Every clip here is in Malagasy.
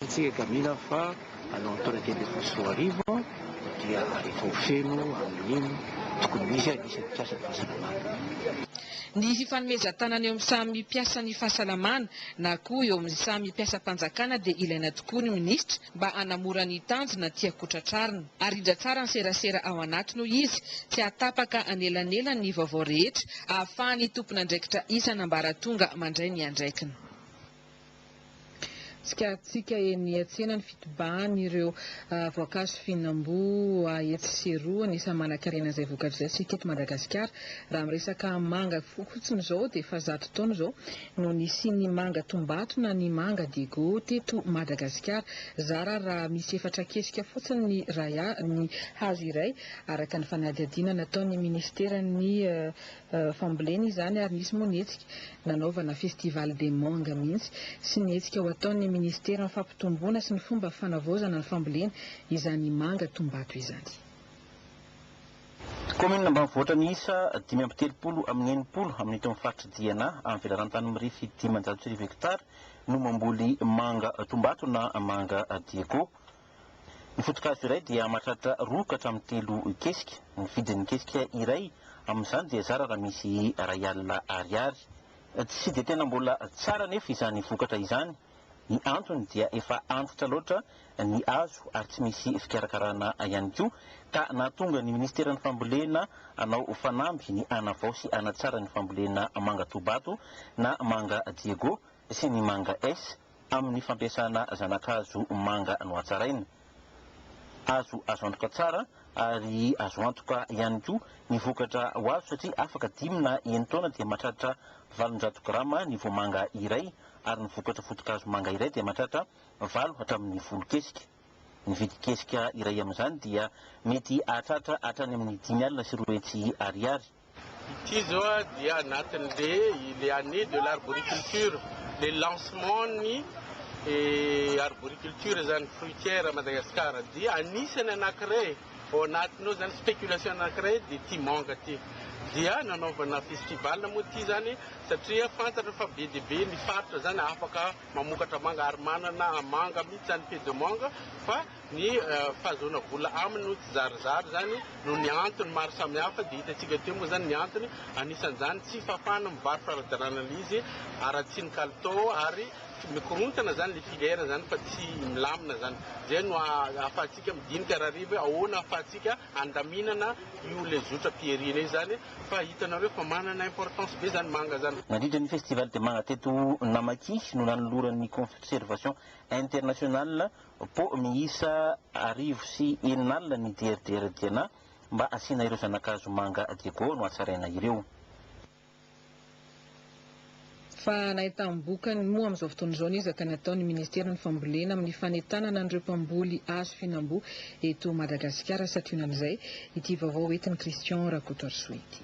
Hitantsika Camila fa à l'entrée teny Beforosoarivo dia efa ho feno amin'iny tokony hisy azy isan'ny mpiasan'ny fahasalamana. Ny fifanomezan-tanana eo amin'ny samy mpiasan'ny fahasalamana na koa eo amin'ny samy mpiasam-panjakana dia ilaina tokoa ny minisitra mba hanamora ny tanjona tiako ho tratrarina. Arindra tsara ny serasera ao anatiny hoy izy, tsy hahatapaka anelanelan ny vaovao rehetra ahafahan'ny tompon'andraikitra isan'ambaratonga mandray ny andraikiny. Tsikaritsika eny an-tsena ny fitobahan'ireo voankazo fihinam-boa etsy sy eroa. Anisan'ny manankarena izay vokatra izay isika eto Madagasikara. Raha miresaka manga fotsiny izao dia efa zato taona izao no nisian'ny manga tombato na ny manga diego teto Madagasikara. Zara raha misy efatra kesika fotsiny ny iray ny hazo iray araka ny fanadihadiana nataon'ny minisiteran'ny fambolena izany ary nisy moa ny hetsika nanaovana festival des mangues mihitsy sy ny hetsika ho ataon'ny minisiteran'ny fampitomboana sy ny fomba fanavaozana ny fambolena izany manga Tombato izany. Kaominina ambanivohitra miisa dimy amby telopolo amin'ny enimpolo amin'ito amin'ny faritr'i Diana amin'ny velaran-tany mirefy dimanjato sy arivo hektara no mamboly manga Tombato na manga Diego. Ny foto-kazo iray dia mahatratra roa ka hatramin'ny telo kesika. Ny vidin'ny kesika iray amin'izany dia zara raha misy iray alina ariary. Tsy dia tena mbola tsara anefa izany vokatra izany. Ny antony dia efa antitra loatra ny hazo ary tsy misy fikarakarana ihany koa ka nahatonga ny minisiteran'ny fambolena hanao fanamby ny hanavao sy hanatsara ny fambolena manga Tobato na manga Diego sy ny manga S Amin'ny fampiasana zana-kazo manga nohatsaraina. Azo azo antoka tsara ary azo antoka ihany koa ny vokatra ho azo satria afaka dimy na enin-taona dia mahatratra valonjato grama ny voamanga iray ary ny vokatra foto-kazo manga iray dia mahatratra valo hatramin'ny folo kesika. Ny vidin'ny kesika iray amin'izany dia mety hahatratra hatrany amin'ny dimy alina sy roa hetsy ariary. Ity zao dia anatin'le le année de l'arboriculture, le lancement ny arboriculture zany fruitière à Madagascar dia anisany anakiray ao anatiny ao zany spéculation anakiray dia ity manga ty dia nanaovana festival moa ty zany satria fantatra fa be dia be ny faritra zany afaka mamokatra manga ary manana manga mitsy zany pays de manga fa Ny fahazoana vola aminy no tsizarizary izany noho ny antony maro samihafa dia hitantsika teo moa izany ny antony anisan'izany tsy fahafahana mivarotra ara-dalàna ilay izy haratsian'ny kalitao ary mikorontana izany ilay filière izany fa tsy milamina izany. Izay no ahafahantsika midinika rahariva hoe ahoana ahafahantsika handaminana io ilay zotra pierrine io izany fa hitanareo fa manana importance be izany manga izany. Nandritra ny Festival de Manga teto Namaki no nanoloran'ny Conservation Internationale Pau miisa arivo sy enina alina ny DRDR Diana mba asiana ireo zanakazo manga Diego no hatsaraina ireo. Fa na entam-bokany moa amin'izao fotoana izao ny ezaka ny ataon'ny ministeran'ny fambolena amin'ny fanentanana an'ireo mpamboly hazo fihinam-boa eto Madagasikara sationan'izay ity vaovao entin'i Christian Rakotoarisoa ity.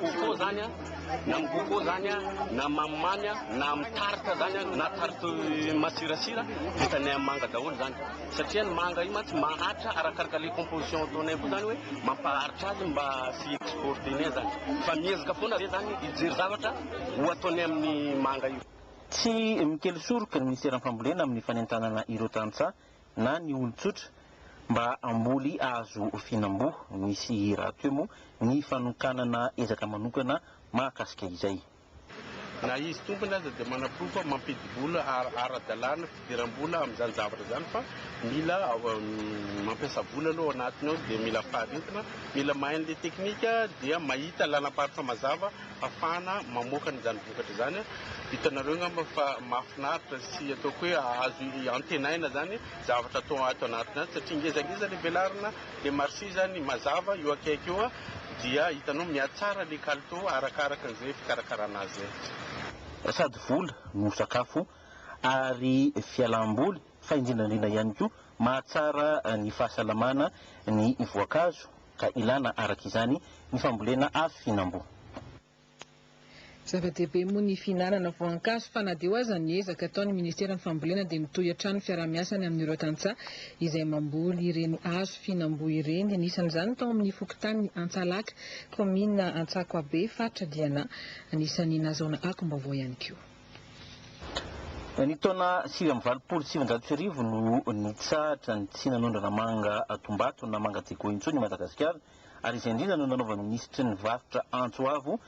Coco zany an, na amin'ny coco zany an, na mamimamy an, na amin'ny tarte zany an, na tarte masirasira, vitanay amin'ny manga daholo zany. Satria ny manga io mantsy maharitra arakaraka le composition ataonay koa zany hoe mampaharitra azy mba tsy exporter-nay zany. Fa miezaka foana re zany hijery zavatra ho ataonay amin'ny manga io. Tsy mikely soroka ny Minisiteran'ny Fambolena amin'ny fanentanana ireo tantsaha na ny olon-tsotra mba hamboly hazo fihinam-boa. Nisy raha teo moa ny fanokanana ezaka manokana mahakasika izay. Na izy tompony aza dia manaporofo fa mampidi-bola ara-dalàna, fidiram-bola amin'izany zavatra izany fa mila mampiasa vola aloha ao anatiny ao dia mila faharetana, mila mahay an'ilay teknika dia mahita lalam-paritsa mazava. hahafahana mamoaka an'izany vokatra izany. Hitanareo angamba fa mahafinaritra sy ataoko hoe azo antenaina izany zavatra atao ato anatiny ato satria ngezangeza ilay velarina, ilay marché izany mazava eo akaiky eo dia hitanao mihatsara ilay kalitao arakaraka an'izay fikarakarana azy izay. Sady vola no sakafo ary fialam-boly fa indrindra indrindra ihany koa mahatsara ny fahasalamana ny voankazo ka ilana araka izany ny fambolena afo fihinam-boa. Zava-dehibe moa ny fihinanana voankazo fa na dia eo aza ny ezaka ataon'ny ministeran'ny fambolena dia mitohy hatrany ny fiaraha-miasany amin'ireo tantsaha izay mamboly ireny hazo fihinam-boa ireny. Anisan'izany tao amin'ny fokontanin'i Antsalaka, kaominina Antsakoabe, faritra Diana. Anisan'ny nazaona akom-baovao ihany koa. Ny taona sivy amby valopolo sy sivinjato sy arivo no nitsahatra ny tsy nanondrana manga Tombato na manga Diego intsony i Madagasikara ary izay indrindra no nanaovan'ny minisitry ny varotra antso avo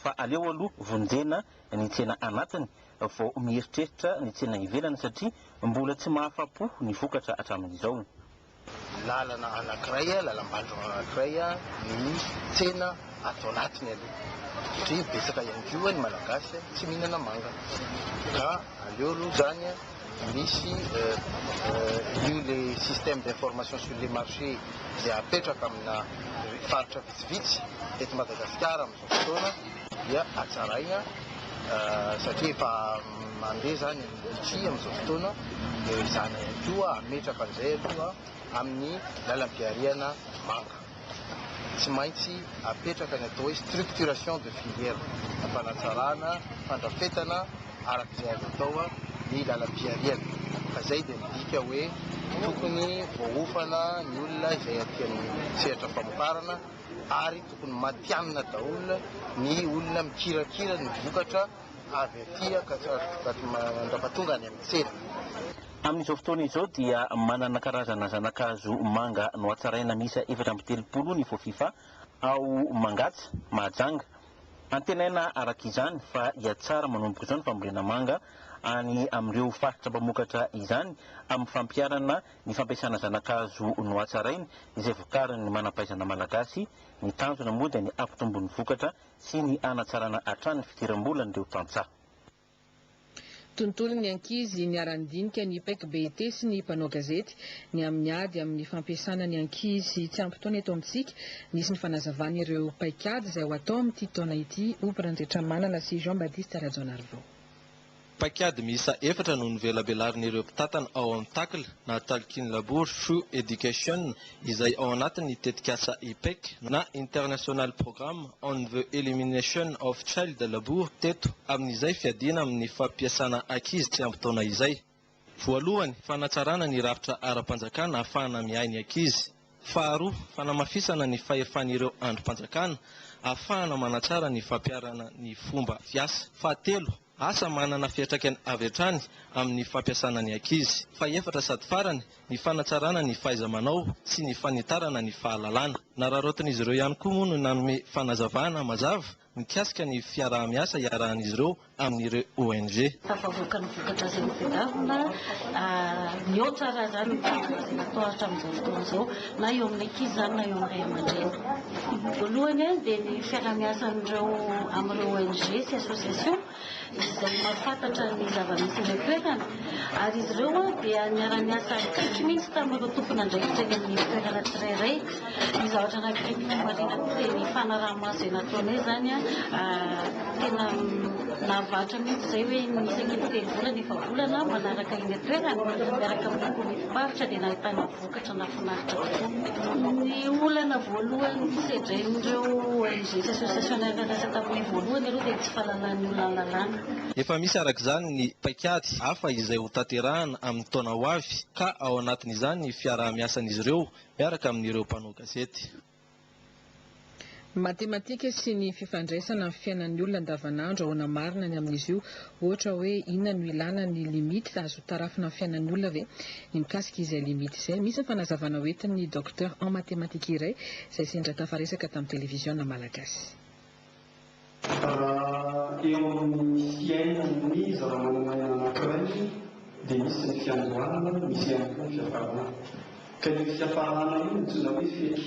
fa aleo aloha vonjena ny tsena anatiny vao mieritreritra ny tsena ivelany satria mbola tsy mahafa-po ny vokatra hatramin'izao. Lalana anankiray, lalam-banjo anankiray ny tsena ato anatiny aloha satria betsaka ihany koa ny Malagasy tsy mihinana manga ka aleo aloha izany misy io le système d'information sur les marchés izay apetraka amina faritra vitsivitsy eto Madagasikara. fotoana dia hatsaraina satria efa mandeha izany ny tsihy amin'izao fotoana dia izany ihany koa hametraka an'izay aloha amin'ny lalam-pihariana manga. Tsy maintsy hapetraka ny atao hoe structuration de filière, hampanatsarana, fandrafetana araka izay azo atao ny lalam-pihariana. Fa izay dia midika hoe tokony voahofana ny olona izay aty amin'ny sehatra famokarana. ary tokony matihanina daholo ny olona mikirakira ny vokatra avy aty mandrapatonga any amin'ny tsena. Amin'izao fotoana izao dia manana karazana zana-kazo manga nohatsaraina miisa efatra amby telopolo ny Fofifa ao Mangatsa, Mahajanga. Antenaina araka izany fa hihatsara manomboka izao ny fambolena manga any amin'ireo faritra mpamokatra izany amin'ny fampiharana ny fampiasana zana-kazo nohatsaraina izay vokarin'ny manam-pahaizana malagasy, ny tanjona moa dia ny hampitombo ny vokatra sy ny hanatsarana hatrany ny fidiram-bolan'ireo tantsaha. Tontolon'ny ankizy niara-nidinika ny Pec BET sy ny mpanao gazety ny amin'ny ady amin'ny fampiasana ny ankizy tsy ampy taona eto amintsika. Nisy ny fanazavana ireo paikady izay ho atao amin'ity taona ity, hoy Brandre Tramanana sy Jean Baptiste Rajaonarivao. Paikady miisa efatra no novelabelarin'ireo mpitantana ao amin'ny Tackl na Talkin Labour through Education izay ao anatin'ny tetikasa IPEC na International Programme on the Elimination of Child Labour teto amin'izay fiadiana amin'ny fampiasana ankizy tsy ampy taona izay. Voalohany, fanatsarana ny rafitra ara-panjakana ahafahana miahy ny ankizy. Faharoa, fanamafisana ny fahefan'ireo andrim-panjakana ahafahana manatsara ny fampiharana ny fomba fiasa. Fahatelo, asa manana fiantraikany avy hatrany amin'ny fampiasana ny ankizy. Fahefatra sady farany, ny fanatsarana ny fahaiza-manao sy ny fanitarana ny fahalalana. Nararaotin'izy ireo ihany koa moa no nanome fanazavana mazava mikasika ny fiaraha-miasa iarahan'izy ireo amin'ireo ONG. Tafavoaka ny vokatra izay notadiavina. Mihoatra raha izany ny tanjona izay natao hatramin'izao fotoana izao, na eo amin'ny ankizy izany na eo amin'ny ray aman-dreny. Voalohany dia ny fiaraha-miasan'ireo amin'ireo ONG sy associations izay mahafantatra ny zava-misy eny an-toerana ary izy ireo dia niara-niasa akaiky mihitsy tamin'ireo tompon'andraikitra eny amin'ny toerana tsirairay. Ny zavatra anankiray tiako marihina koa dia ny fanaraha-maso izay nataonay izany, tena nahavarotra mihitsy izay hoe ny isaky ny telo volana efa-bolana manaraka eny an-toerana miaraka amin'ny komity faritra dia nahitana vokatra. Vokatra nahafinaritra kokoa. Ny olana voalohany sedren'ireo ONG sy association niara-niasa taminay voalohany aloha dia ny tsy fahalalan'ny olona ny lalàna. Efa misy araka izany ny paikady hafa izay ho tanterahana amin'ny taona ho avy ka ao anatin'izany ny fiaraha-miasan'izy ireo miaraka amin'ireo mpanao gazety. Matematika sy ny fifandraisana amin'ny fiainan'ny olona andavanandro, ahoana marina ny amin'izy io? Ohatra hoe inona no ilàna ny limite? Azo tarafina amin'ny fiainan'ny olona ve ny mikasika izay limite izay? Misy ny fanazavana ho entin'ny Docteur en mathématiques iray izay sendra tafaresaka tamin'ny televiziona malagasy. Raha eo amin'ny fiainan'ny zava-manan'aina anankiray dia misy ny fiandohana, misy ihany koa ny fiafarana. Ka io fiafarana io no antsoina hoe fety.